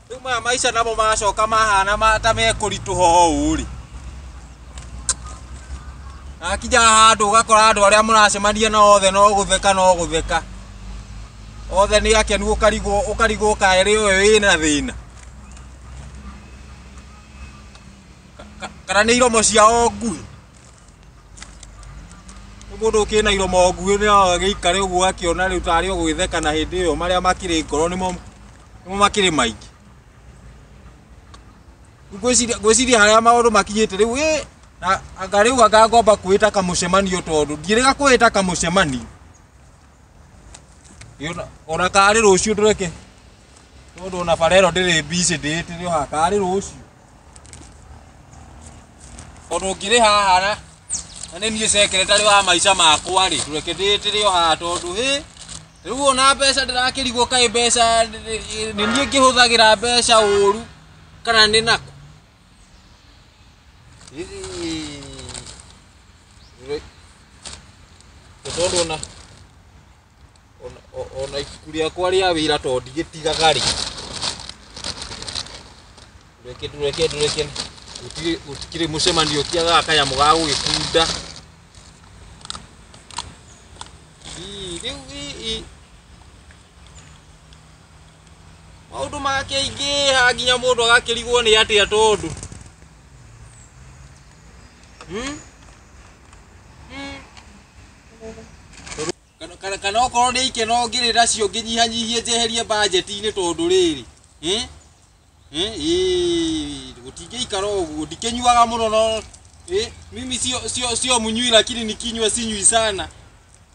rĩu maya maica namo macoka mahana mata mekũritũha ũũ rĩ akinya handũ ũgakora andũ arĩa mũracemania na othe no gũtheka no gũtheka othe nĩ akenu ũkarigwo ũkarigwo kaerĩ ũyũ wĩna thĩna Ka- ka- kana nĩ iromo ciao nguhĩ Mũndũ ũkĩna iro moguĩ nĩ agĩikare ũguo akĩona rĩu tarĩ o gwĩtheka na hĩndĩ ĩyo marĩa makĩrĩ ngoro nĩmo nĩmo makĩrĩ maingĩ. Rĩu ngwĩciria ngwĩciria harĩa maũndũ makinyĩte rĩu ĩ na anga rĩu anga ngomba kwĩta kamũcemanio tondũ ndirĩga kwĩta kamũcemanio. Ĩ ona- Ona karĩ rũciũ ndũreke tondũ ona bara ĩno ndĩrĩ busy ndĩĩtĩre o haha karĩ rũciũ. Tondũ ngĩrĩ haha na na nĩ niĩ secretary wa maica makwa rĩ reke ndĩtĩre o haha tondũ hĩ rĩu ona mbeca ndĩrakĩrigwo kaĩ mbeca nĩ nĩ- nĩ niĩ ngĩhũthagĩra mbeca ũru kana nĩ nako Ĩĩ. Rĩ- tondũ ona Ona- o- ona ibuku rĩakwa rĩa wĩra to ndigĩtigaga rĩ reke ndũreke ndũreke gũtirĩ gũtikĩrĩ mũcemanio ũtiagaga kanyamũ ga gũgĩkunda Ii, rĩu ii, ii. maũndũ makĩingĩha nginya mũndũ agakĩrigwo nĩ atĩa tondũ Hmm? Hmm. Kana- kana okorwo nĩ ikeno ngĩrĩ nacio ngĩnyihanyihie njeherie mbanjeti-inĩ tondũ rĩrĩ eh? Eh, ĩĩ, gũtingĩikara ũguo ndikĩnyuaga mũno no eh, mimi sio, sio, sio mnyui lakini nikinywa sinywi sana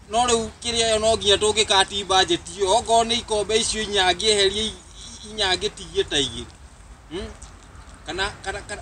no rĩu kĩrĩa yo no nginya tũngĩkati mbanjeti ĩyo okorwo nĩ ikombe icio inya ngĩeherie i- i- inya ngĩtigie ta igĩrĩ Hmm? kana, kana, kana,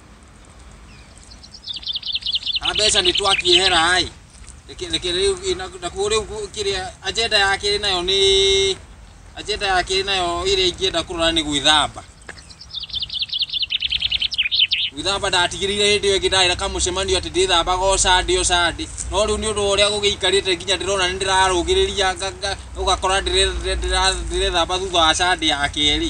na mbeca nĩ twakĩehera ĩ reke rĩu nakuo rĩu kĩrĩa agenda yake ĩ nayo nĩ agenda yake ĩ nayo ĩrĩa ingĩenda kũrora nĩ gwĩthamba gwĩthamba ndatigĩrĩire hĩndĩ ĩyo ĩngĩ ndarĩ na kamũcemanio atĩ ndĩthambaga o Sunday o Sunday no rĩu nĩ ũndũ wa ũrĩa gũgĩikarĩte nginya ndĩrona nĩ ndĩrarũgĩrĩria ũgakora ndĩrethamba thutha wa Sunday ya kerĩ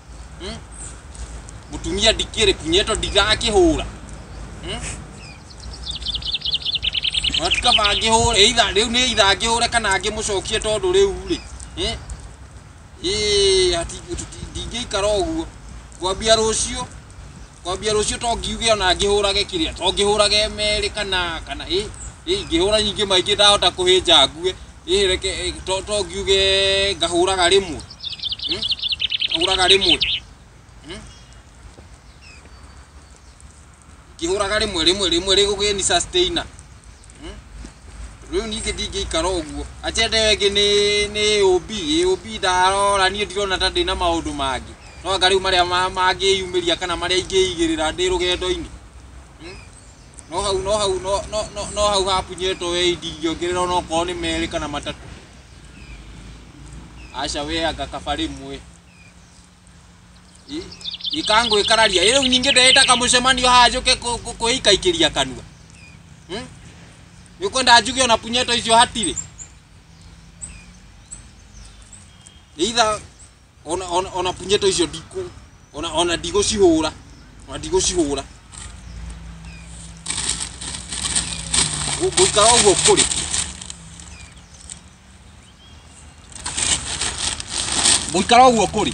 Hmm? Mutumia ndikĩrĩ kunyeto ndigakĩhũra. Hmm? Matukaba ngĩhũre, either rĩu nĩ either ngĩhũre kana ngĩmũcokie tondũ rĩu rĩ. Eh? Ĩĩ, ati tuti- ndingĩikara ũguo. Kwambia rũciũ, kwambia rũciũ to ngiuge ona ngĩhũrage kĩrĩa, to ngĩhũrage merĩ kana kana ĩ ĩ ngĩhũra nyingĩ maingĩ ndahota kũhĩnja ngue. ĩ reke ĩ, to to ngiuge ngahũraga rĩmwe Hmm? ngahũraga rĩmwe Hmm? ngĩhũraga rĩmwe rĩmwe rĩmwe rĩgũgĩ ni sustainer Hmm? rĩu ningĩ ndingĩikara ũguo ajenda ĩyo ĩngĩ nĩ nĩ ũb ũb ndarora niĩ ndirona ta ndĩna maũndũ mangĩ no anga rĩu marĩa ma- mangĩyumĩria kana marĩa ingĩigĩrĩra ndĩ rũgendo-inĩ no hau no hau no no no no hau hapunyetwo we ndingĩongerera ona okorwo nĩ merĩ kana matatũ aca we anga kaba rĩmwe ikangwĩkararia ĩ rĩu ningĩ ndĩrĩtaka mũcemanio haha njũke kũ- kũ- kwĩikaikĩria kanua Hmm? nĩ ũkwenda njuge ona punyeto icio hatirĩ either ona ona ona punyeto icio ndikũ ona ona ndigũcihũra ona ndigũcihũra Ngũ- ngũikara ũguo kũrĩ ngũikara ũguo kũrĩ